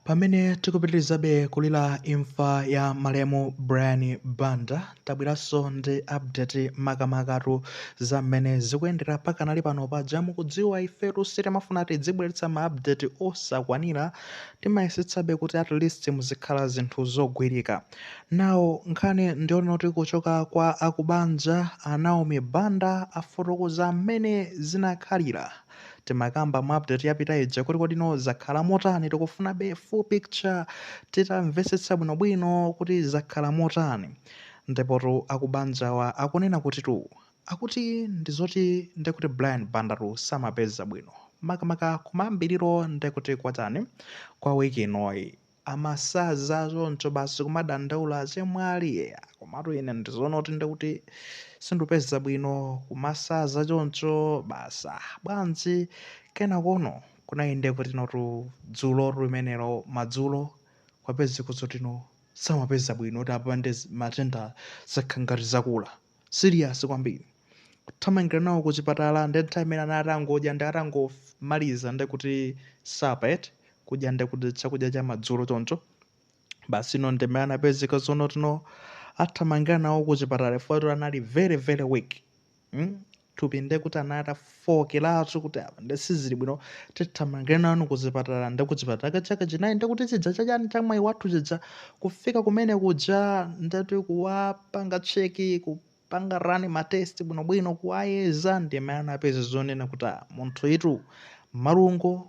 Pamene tikupitilizabe kulila imfa ya malemu Brian Banda, tabwelaso ndi update makamakatu za mmene zikuyendera pakanali pano paja mukudziwa ifetu sitimafuna tidzibweletsa ma update osakwanila timayesetsabe kuti at least muzikhala zinthu zogwilika now nkhani ndiyonoti kuchoka kwa akubanja a Naomi Banda afotokoza mmene zinakhalila timakamba mu update yapita ija kuti kodino zakhala motani tikufunabe full picture titamvesetsa bwinobwino kuti zakhala motani ndipotu akubanjawa akunena kuti tu akuti ndizoti ndekuti brian bandatu samapeza bwino makamaka kumayambiriro ndekuti kwatani kwa wiki inoyi amasaza choncho basi kumadandaula achemwali eya komatu ine ndizoona kuti ndikuti sindupeza bwino kumasaza choncho basi ah, bwanji kenakono kunayende kutinotu dzulo limenelo madzulo kwapezeka zotino samapeza bwino kuti apa nde matenda zakhala ngati zakula serious kwambiri kuthamangira nawo ku chipatala ndi nthawi imene anali atangodya ndi atangomaliza ndi kuti sapa eti kudya ndi kuti chakudya cha madzulo choncho basi ino ndi mmene anapezeka zonotino athamangira nawo ku chipatala chifukwa kuti anali very very weak mm? thupi ndekuti anali atafookeratu kuti apa nde sizili bwino tithamangire nanu kuchipatala nde kuchipatala ka chaka chinayi ndekuti chija cha chani cha mwayi wathu chija kufika kumene kuja ndeti kuwapanga cheki kupanga rani matesti bwinobwino kuwayeza ndi mmene anapeza zonena kuti "Ah, munthu itu malungo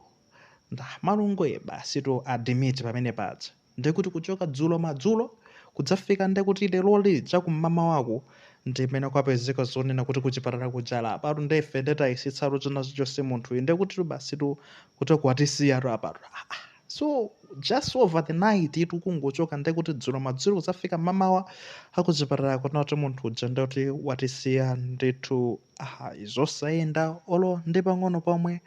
nde malungo ye basi to adimiti pamene paja Ndiye kuti kuchoka dzulo madzulo kudzafika ndiye kuti leroli chakum'mamawaku ndi mmene kwapezeka zonena kuti kuchipatala kuja apatu ndiye ife ndiye tayesetsatu china chilichonse munthuyi ndiye kutitu basitu kuti kwatisiyatu apatu Ah, ah. so just over the night itu kungochoka ndiye kuti dzulo madzulo kudzafika m'mamawa akuchipatala kunena kuti munthu uja ndiye kuti watisiya ndithu Ayi, zosayenda olo ndi pang'ono pomwe.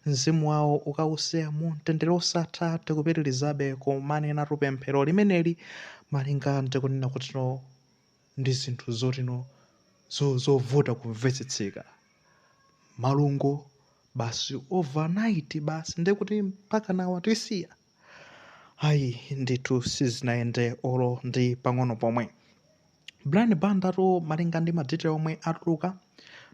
Mzimu wawo ukawuse mu mtendere wosatha, tikupitilizabe kumanenatu pemphero limeneli malinga ndi kunena kutino ndi zinthu zotino zo zovuta kumvetsetseka. Malungo basi over night basi ndekuti mpakana watisiya? ayi ndithu sizinayende olo ndi pang'ono pomwe brian bandatu malinga ndi madetail omwe atuluka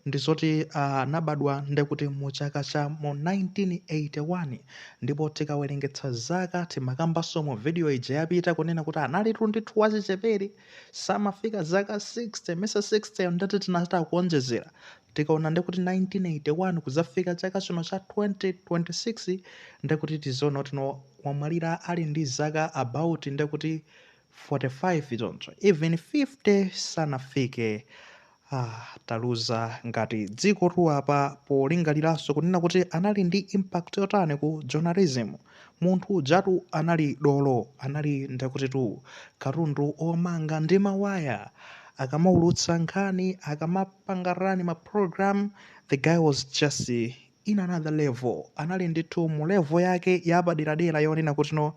ndi zoti anabadwa uh, ndekuti mu chaka cha mu 1981 ndipo tikawerengetsa zaka timakambanso mu video ija yapita kunena kuti analitu ndithu wachichepere samafika zaka 60 mesa 60 ndeti tinachita kuonjezera Tikaona nde kuti 1981 kudzafika chaka chino cha 2026 nde kuti tiziona kuti no wamwalira ali ndi zaka about nde kuti 45 choncho even 50 sanafike ah, taluza ngati dzikotu apa polingaliranso kunena kuti anali ndi impact yotani ku journalism Munthu ujatu anali dolo, anali ndekutitu katundu omanga ndi mawaya. Akamaulutsa nkhani, akamapanga run ma program, the guy was just in another level. Anali nditu mu level yake yapaderadera yonena kuti no,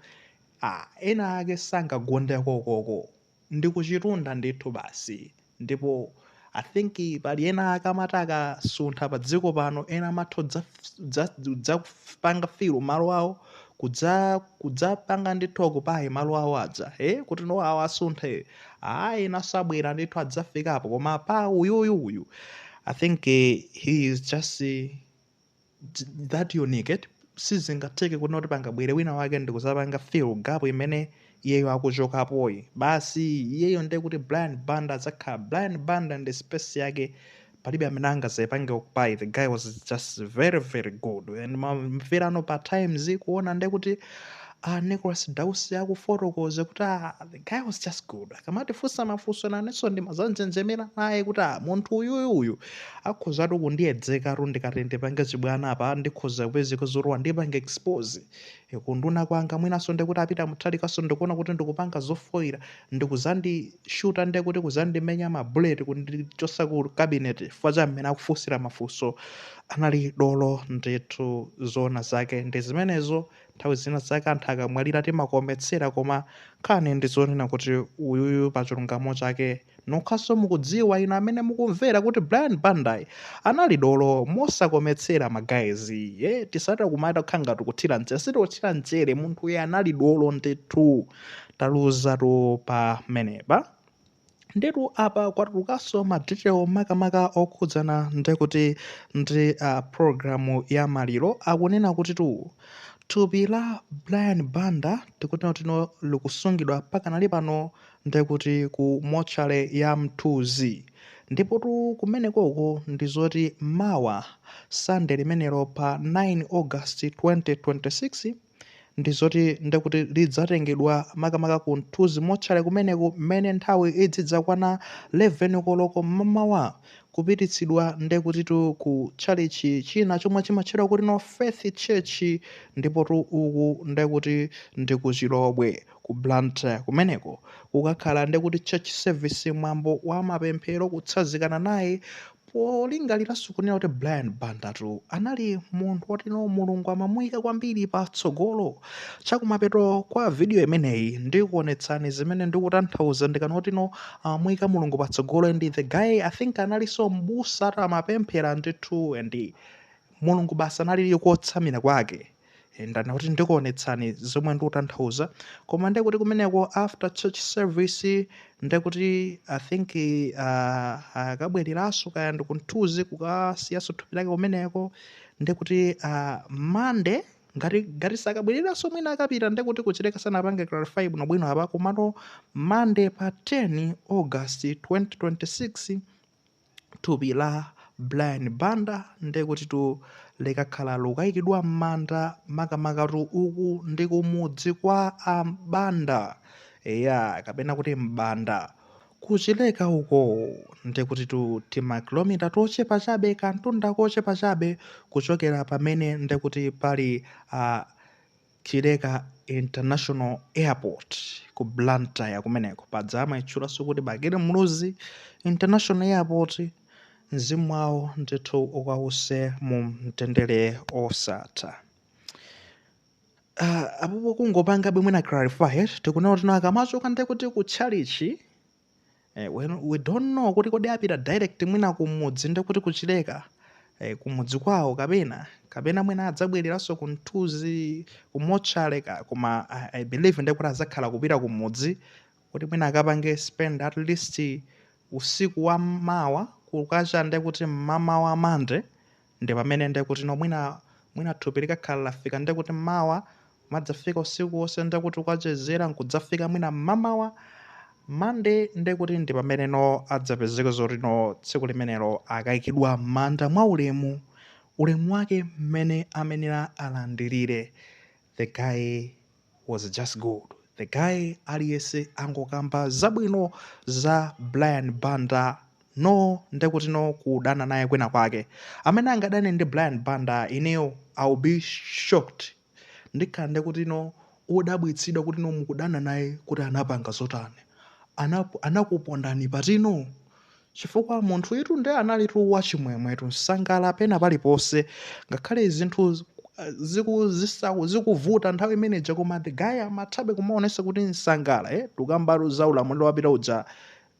ah, ena ake sangagundeko ukoko. ndi kuchitunda ndithu basi ndipo I think pali ena ake amati akasuntha pa dziko pano ena amatha kudza- kudza- kudzapanga fill malo awo kudza- kudzapanga ndithu occupy malo awo aja e kuti no awo asunthe ayi ena azabwera ndithu adzafikapo koma pa uyuyu uyu I think eh, he is just eh, that unique sizingatheke kunena kuti pangabwere wina wake ndikuzapanga fill gap imene iyeyo akuchokapoyi basi iyeyo ndiye kuti brian banda adzakhala brian banda ndi space yake palibe amene angazayipange occupy the guy was just very very good and mamveranso pa times kuona ndiye kuti a Nicholas Dausi akufotokoza kuti ah, the guy was just good akamatifunsa mafunso nanenso ndimazanjenjemera naye kuti ah, munthu uyuyu uyu akhozatu kundiyedzeka tu ndikati ndipange chibwana apa ndikhoza kupezeka zoti wandipange expose Eh, kunduna kwanga mwinanso ndikuti apita mutalikanso ndikuona kuti ndikupanga zofoira ndikuzandishuta nde kuti kuzandimenya mabuleti kundichotsa ku cabinet chifukwa cha mmene akufunsira mafunso anali dolo ndithu zoona zake ndi zimenezo Nthawi zina zake anthu akamwalira timakometsera koma nkhani ndi yonena kuti uyuyu pa chilungamo chake nokhaso mukudziwa inu amene mukumvera kuti Brian Bandayi anali dolo mosakometsera ma guys iye tisati kumati tikukhala ngati kuthira mchere sitikuthira mchere munthuyi anali dolo ndithu taluzatu pamenepa. Ndiyetu apa kwatulukanso ma detail makamaka okhudzana ndekuti ndi uh, program ya maliro akunena kutitu thupi la Brian Banda tikuteno tino likusungidwa pakanali pano ndekuti ku motchale ya Mthunzi ndipotu kumenekoko ndi zoti mawa Sunday limenelo pa 9 August 2026 ndi zoti ndi kuti lidzatengedwa makamaka ku mthunzi motchale kumeneko mmene nthawi idzidzakwana 11 koloko mmamawa kupititsidwa ndi kutitu ku tchalitchi china chomwe chimatchedwa kuti no faith church ndipotu uku ndi kuti ndi ku chilobwe ku blantyre kumeneko kukakhala ndi kuti church service mwambo wa mapemphero kutsanzikana naye Polingaliranso kunena kuti Brian Banda anali munthu wotino Mulungu amamuyika kwambiri patsogolo. Chakumapeto kwa video imeneyi ndikuonetsani zimene ndikutanthauza ndikanena zotino amamuyika Mulungu patsogolo and the guy I think analinso mbusatu amapemphera ndithu and Mulungu basi analili kotsamira kwake. Eh, ndana kuti ndikuonetsani zomwe ndikutanthauza koma nde kuti kumeneko after church service nde kuti i think uh, akabwereraso kaya ndi ku Mthunzi kukasiyaso thupi lake kumeneko nde kuti uh, monday ngati ngati sakabwereraso mwina akapita nde kuti kuchileka sanapange clarify bwinobwino apa komano monday pa 10 august 2026 thupi la Brian Banda ndekutitu likakhala likuikidwa m'manda makamakatu uku ndi kumudzi kwa a Banda eya kapena kuti m'banda kuchileka uko ndekutitu timakilomita tochepa chabe kantunda kochepa chabe kuchokera pamene ndekuti pali a Chileka International Airport ku Blantyre kumeneko. Paja amaitchulanso kuti Bakili Muluzi International Airport. Mzimu wawo ndithu ukause mu mtendere osatha. Ah, apopo kungopangabe mwina clarify eti tikunena zotino akamachoka ndekuti ku tchalichi eh, we don't know kuti kodi apita direct mwina kumudzi ndi kuti kuchileka eh, kumudzi kwawo kapena kapena mwina adzabwereranso ku Mthunzi ku motchale koma I, i believe ndi kuti adzakhala kupita kumudzi kuti mwina akapange spend at least usiku wa mawa kukacha nde kuti mmamawa mande Nde pamene nde kuti no mwina mwina thupi likakhala lafika nde kuti mawa kumadzafika usiku wonse nde kuti akachezera nkudzafika mwina mmamawa Monday nde kuti ndi pamene no adzapezeke zoti no tsiku limenelo akaikidwa mmanda mwaulemu ulemu wake mmene amayenera alandirire the guy was just good the guy aliyese akungokamba zabwino za brian banda no ndekuti no kudana naye kwina kwake amene angadane ndi brian banda ineyo ill be shocked ndikhala ndekuti no odabwitsidwa kuti no mukudana naye kuti anapanga zotani Anapo- anakupondani patino Chifukwa munthuyutu nde analitu wachimwemwetu, nsangala pena paliponse, ngakhale zinthu ziku zisaku zikuvuta nthawi imene ija koma the guy amathabe kumaonesa kuti nsangala eh, tukambatu za ulamuliro wapita uja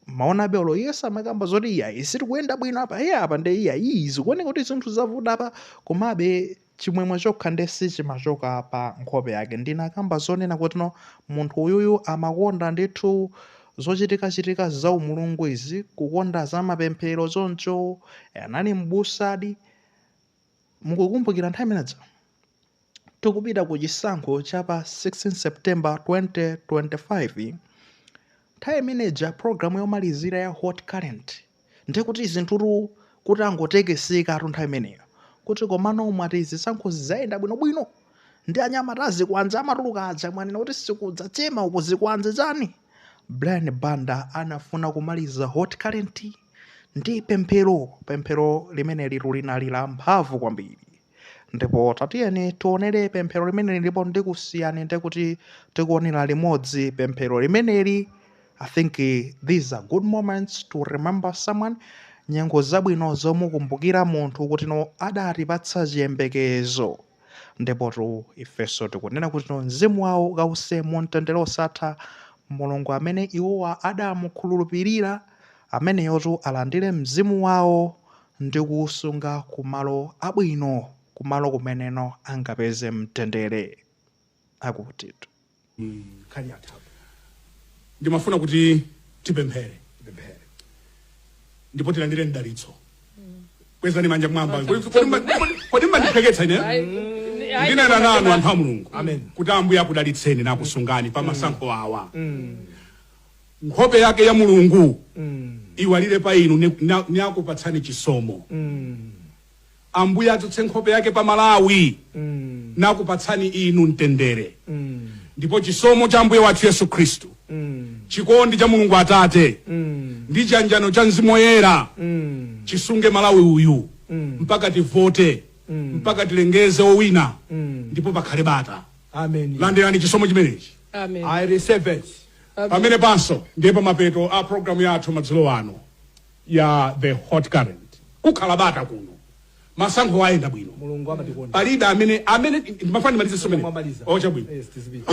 amaonabe olo iye samakamba zoti iyayi sizikuyenda bwino apa iye apa nde iyayi zikuoneka kuti zinthu zavuta apa komabe Chimwemwe chokha nde sichimachoka pa nkhope yake. Ndinakamba zonena kutino munthu uyuyu amakonda ndithu zochitika chitika za umulungu izi, kukonda za mapemphero choncho anali m'busadi. Mukukumbukira nthawi imenedzo? Tikupita ku chisankho cha pa 16 September 2025. Nthawi imene ija program yomalizira ya Hot Current ndiye kuti zinthutu kutangotekesekatu nthawi imeneyo kuti komano mwati zisankho ziyenda bwinobwino ndi anyamata azikwanje amatuluka aja mwanena kuti sikudza chema uko zikwanje chani Brian Banda anafuna kumaliza Hot Current ndi pemphero pemphero limenelitu linali la mphamvu kwambiri ndipo tatiyeni tionere pemphero limeneli ndipo ndikusiyani ndikuti tikuonera limodzi pemphero limeneli i think these are good moments to remember someone nyengo zabwino zomukumbukira munthu kutino adatipatsa chiyembekezo ndipotu ifenso tikunena kutino mzimu wawo ukawuse mu mtendere osatha mulungu amene iwowa adamukhulupirira ameneyotu alandire mzimu wawo ndi kuusunga ku malo abwino, ku malo kumeneko angapeze mtendere. Akutitu. nkhani yatha apa. Ndimafuna kuti tipemphere, tipemphere ndipo tilandire mdalitso. Kwezani manja mmwamba. Kodi- kodi mma- kodi- Kodi mmandipepetsa ine? Ndinena nanu anthu a Mulungu Amen. kuti Ambuye akudalitseni nakusungani pa masankho awa. nkhope yake ya mulungu iwalire pa inu ni- na- nakupatsani chisomo ambuye adzutse nkhope yake pa malawi nakupatsani inu mtendere ndipo chisomo cha ambuye wathu yesu khristu chikondi cha mulungu atate ndi chiyanjano cha mzimu woyera chisunge malawi uyu mpaka tivote mpaka tilengeze owina ndipo pakhale bata amen landirani chisomo chimenechi Amen. i receive it pamenepanso ndiye pamapeto a programu yathu madzulo ano ya The Hot Current kukhala bata kuno masankho ayenda bwino mulungu amatikonda palibe amene amene ndimafuna ndimalize somene Mwamaliza. chabwino Yes, tizipita.